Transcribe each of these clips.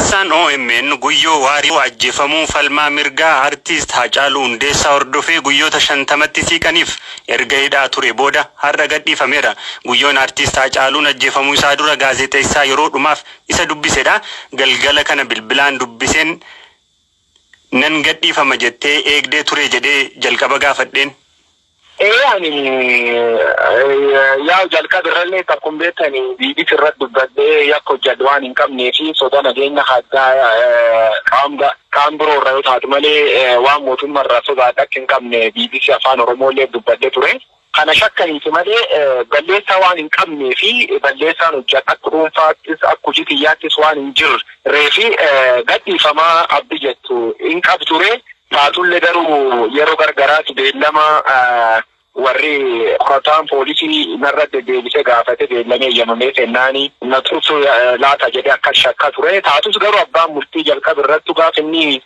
Ibsaan omn Guyyoo Waariyoo ajjefamuu falmaa mirgaa Artiist Haacaaluu Hundeessaa hordofee guyyoota 50tti siiqaniif erga hidhaa ture booda har'a gadhiifameera. Guyyoon Artiist Haacaaluun ajjefamuu isaa dura gaazexeessaa yeroo dhumaaf isa dubbisedha. Galgala kana bilbilaan dubbiseen. Nan gadhiifama jettee eegdee turee jedhee jalqaba gaafadheen. Ee ani yaa'u jalqaba irralleetti akkum beettan bbc irratti dubbadhee yakka hojjadhe waan hin qabnee fi soda nageenya haddaa qaam biroo irra yoo taatu malee waan mootumma irraa sodaadhe akka hin qabne bbc Afaan Oromoo illeetti dubbadhe ture. Kana shakka miti malee balleessaa waan hin qabnee fi balleessaan hojjadhe akka dhuunfaattis akka hojii kiyyaattis waan hin jirreef gadhiifama abdi jettu hin qabu ture. Taatullee garuu yeroo gargaraatti beellama warri qorataan poolisii narra deddeebisee gaafate beellamee eeyyamamee kennaani na tursu laata jedhee akkan shakka ture. Taatus garuu abbaan murtii jalqaba irrattu gaafa inni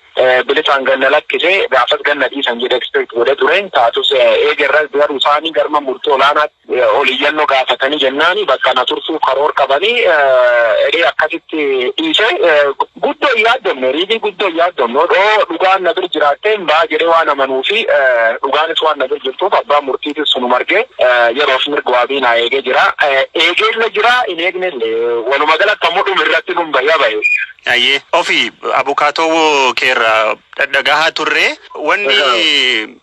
bilisaan gad na lakkise. Gaafas gad na dhiisan jedhee expect godhee ture. Taatus eega irras garuu isaanii garma murtii olaanaatti ol iyyannoo gaafatanii jennaani bakka na tursuuf karoor qabanii jedhee akkasitti dhiise. Guddoo hin yaaddomne riilii guddoo hin yaaddomne odoo dhugaan na bir jiraattee hin baha jedhee waan amanuu fi dhugaanis waan na bir jirtuuf abbaan murtiitis sunuma argee yeroof mirga waabii naa eegee jira. Eegeellee jira hin eegnellee waluma galatti ammoo dhuma irratti nun bahee bahe. Ayyee ofi abukaatoo kee irraa dhadhagahaa turre wanni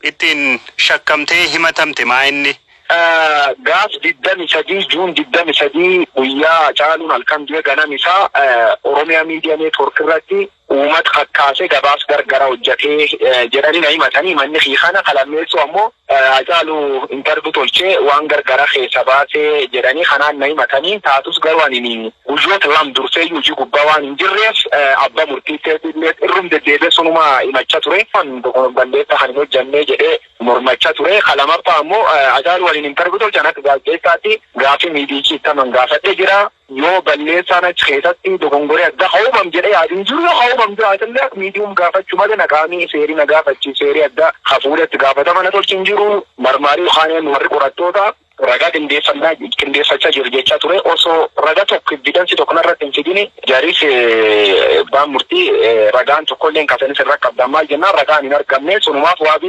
ittiin shakkamtee himatamte maa inni? Gaaf 23 June 23 guyyaa Hacaaluun halkan du'e ganam isaa Oromia Media Network irratti uumat kakkaase gabaas gargara hojjatee jedhani na himatani himanni kiyya kana ka lammeessoo ammoo Hacaalu interview tolche waan gargara keessa baase jedhani kanaan na himatani taatus garuu anini guyyoota lam durseeyyuu hojii gubbaa waan hin jirreef abba murtii seetiillees irrum deddeebi'e sunuma himacha ture balleessa kan hin hojjanne jedhe mormacha ture ka lamaffaa ammoo Hacaalu waliin interview tolcha an akka gaazexeessaatti gaafii miidiyichi ittaman gaafadhe jira Yoo balleessaan achi keessatti dogongoree adda ka uumam jedhee yaadu hin jiru, yoo ka uumam jiraate illee akka medium gaafachu malee na qaamii seerii na gaafachiis seerii adda ka fuudhe itti gaafatama na tolchi hin jiru. Marmaarii yookaan warri qorattoota ragaa qindeeffannaa qindeeffacha jiru jecha ture osoo raga tokko evidence tokko narratti hin fidini jaris abbaan murtii ragaan tokko illee hin kasanis hin rakkabdan maal jennaan ragaan hin argamne sunumaaf waabii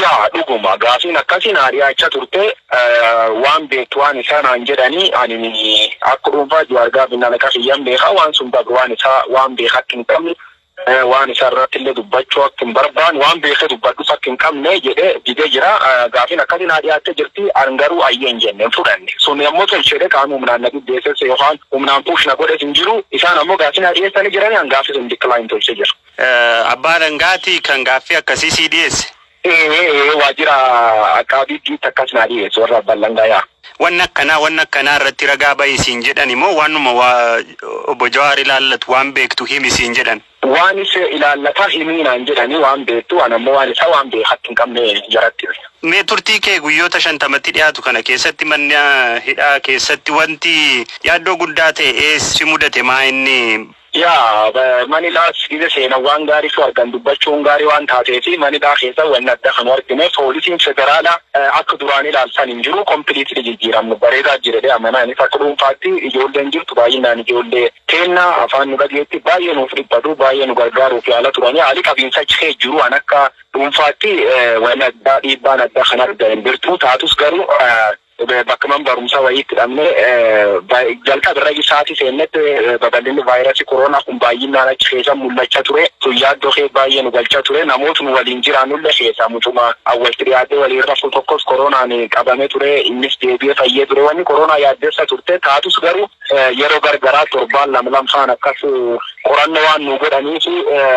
Yaa dhuguma gaafiin akkasi naa dhiyaacha turte waan beektu waan isaa naan jedhani ani akka dhuunfaa juwaar gaafiin alaqa kiyyan beeka waan sun dabru waan isaa waan beeka akka hin qabne waan isaa irratti illee dubbachuu akka hin barbaan waan beeke dubbadhus akka hin qabne jedhe dide jira gaafiin akkasi naa dhiyaatte jirti an garuu ayyee hin jenne hin fudhanne sun ammoo tolchedhe qaama humnaan na dhibbeesses yookaan humnaan puush na godhes hin jiru isaan ammoo gaafii naa dhiyeessani jirani an gaafii sun decline tolche jira. Eh, Abbaa Alangaati kan gaaffii akkasii sii dhiyeesse. Ee, ee, waajjira Aqaabiitti takkas naa dhiyeessu warra Abbaa Alangaa yaa. Wanni akkanaa wanni akkanaa irratti ragaa bahi siin jedhan immoo waanuma waa obbo Jawaar ilaallatu waan beektu himi siin jedhan. Waan isa ilaallata himii naan jedhanii waan beektu an ammoo waan isaa waan beekatti hin qabne jaratti hime. Mee turtii kee guyyoota shantamatti dhiyaatu kana keessatti manni ah, hidhaa keessatti wanti yaaddoo guddaa ta'e ees si mudate maa inni Yaa manidhaas gize seenan waan gaarii tu argan dubbachuun gaarii waan taateefi manidhaa keessa wanni adda ka nu argine poolisiin federaala akka duraan ilaalu san hin jiru completely jijjiiramne bareedaa jira jedhee amana anis akka dhuunfaatti ijoolleen jirtu baayyinnaan ijoollee teenna afaan nu dhageetti baay'ee nuuf dhiphatu baay'ee nu gargaaruuf yaala turani haali qabiinsa achi keessa jiru an akka dhuunfaatti wanni addaa dhiibbaan adda kan argan hin jirtu taatus garuu Bakka man barumsaa wayiitti dhabne jalqaba irra isaati seennetti babal'inni vaayirasii koroonaa kun baay'inaan achi keessa mul'achaa ture. Sun yaaddoo keessa baay'ee nu galchaa ture. Namoota nu waliin jiraannullee keessaa mucuma walitti dhiyaatee waliin rafu tokkos koroonaan qabamee ture. Innis deebi'ee fayyee ture. Wanni koroonaa yaaddessa turte taatus garuu yeroo gargaraa torbaan lama lamfaan akkas qorannoo waan nu godhaniif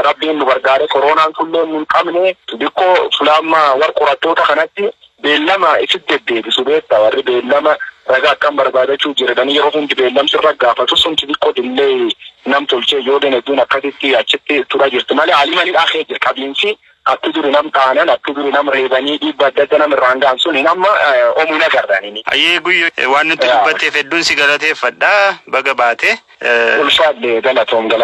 rabbiin nu gargaaree koroonaan kunillee nu hin qabne. Dikkoo fulaammaa warra qorattoota kanatti Beellama isit deddeebisu beetta warri beellama raga akkam barbaadachu jiradhani yeroo hundi beellam sirra gaafatu sun xixiqqo dillay nam tolchee ijoolleen hedduun akkasitti achitti tura jirti male aliman hidhaa kee jira qabiinsi akki duri nam dhaanan akki duri nam reebanii dhiibba adda adda nam irraan gahan sun hin amma omu hin agarre ani ni Hayyee Guyyoo waan nutti dubbatteef hedduun si galateeffadha. Baga baate. Ulfaadhe galatoom galaan.